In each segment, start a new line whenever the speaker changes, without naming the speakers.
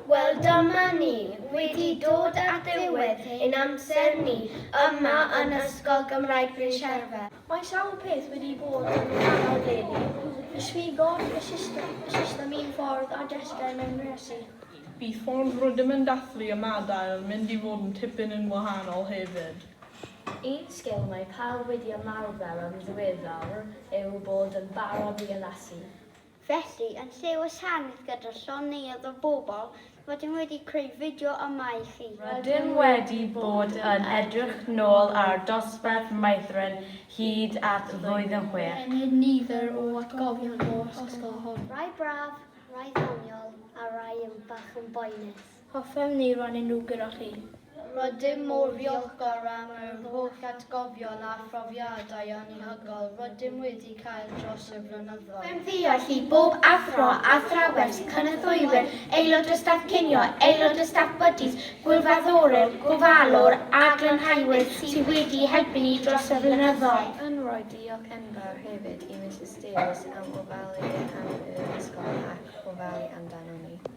Wel dyma ni wedi dod at ddiwedd ein amser ni yma yn Ysgol Gymraeg Bryn Sherfa. Mae sawl peth wedi bod yn wahanol eleni.
Disgrifodd y system y system un ffordd a dysgai mewn resi. Y ffordd
rydym yn dathlu ymadael yn mynd i fod yn tipyn yn wahanol hefyd. Un
sgil mae pawb wedi ymarfer yn ddiweddar yw bod yn barod i addasu. Felly,
yn lle wasanaeth gyda llond neuadd o bobl, rydym wedi creu fideo yma i chi. Rydym wedi
bod yn edrych nôl ar dosbarth Maethren hyd at flwydd yn chwech. Enid nifer o
atgofion o'r ysgol hon. Rai braf,
rai ddoniol, a rai yn bach yn boenus. Hoffem ni rannu
nhw gyda chi. Rydym mor
ddiolchgar am yr holl atgofion a phrofiadau anhygoel rydym wedi cael dros y blynyddoedd. Hoffem ddiolch i bob
athro, athrawes, cynorthwywyr, aelod o staff cinio, aelod o staff Buddies, gwirfoddolwr, gofalwr a glanhauwyr sydd wedi helpu ni dros y blynyddoedd. Yn rhoi diolch
enfawr hefyd i Misus Davies am ofalu am yr ysgol ac ofalu amdanon ni.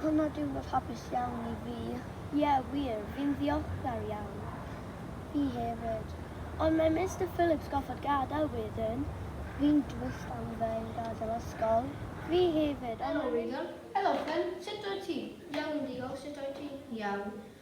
Hwn o diwrnod hapus iawn i fi. Ie, wir, fi'n ddiolchgar iawn. Fi hefyd. Ond mae Mister Phillips goffod gadael wedyn. Fi'n drist am fe yn gadael ysgol. Fi hefyd, ond... Helo Wyddan. Helo Ffynn. Sut wyt ti? Iawn diolch, sut wyt ti?
Iawn.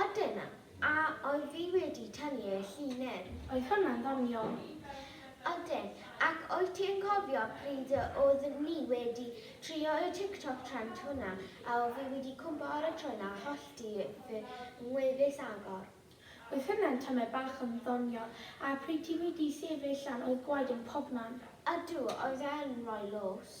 A dyna,
a oedd fi wedi tynnu y llinyn. Oedd hwnna'n ddoniol?
Ydyn,
ac wyt ti'n cofio pryd y oedd ni wedi trio y TikTok trend hwnna a oedd fi wedi cwmpo ar y trwyn a hollti fy ngwefus agor? Oedd hwnna'n
tamed bach yn ddoniol, a pryd ti wedi sefyll lan oedd gwaed yn pobman. Ydw, oedd
e'n rhoi lws.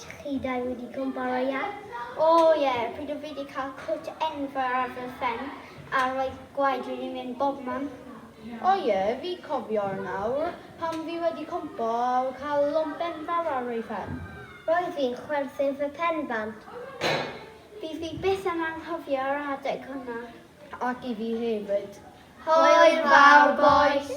Chi dau wedi cwmparo iawn? O ie, pryd o fi di cael cwt enfawr ar fy phen a roedd gwaed wedi mynd bobman. O ie,
fi cofio nawr, pan fi wedi cwmpo a cael lwmp enfawr ar fy phen. Roedd fi'n
chwerthin fy pen bant. Fydd fi byth yn anghofio yr adeg hwnna. Ac i fi
hefyd. Hwyl
fawr
bois!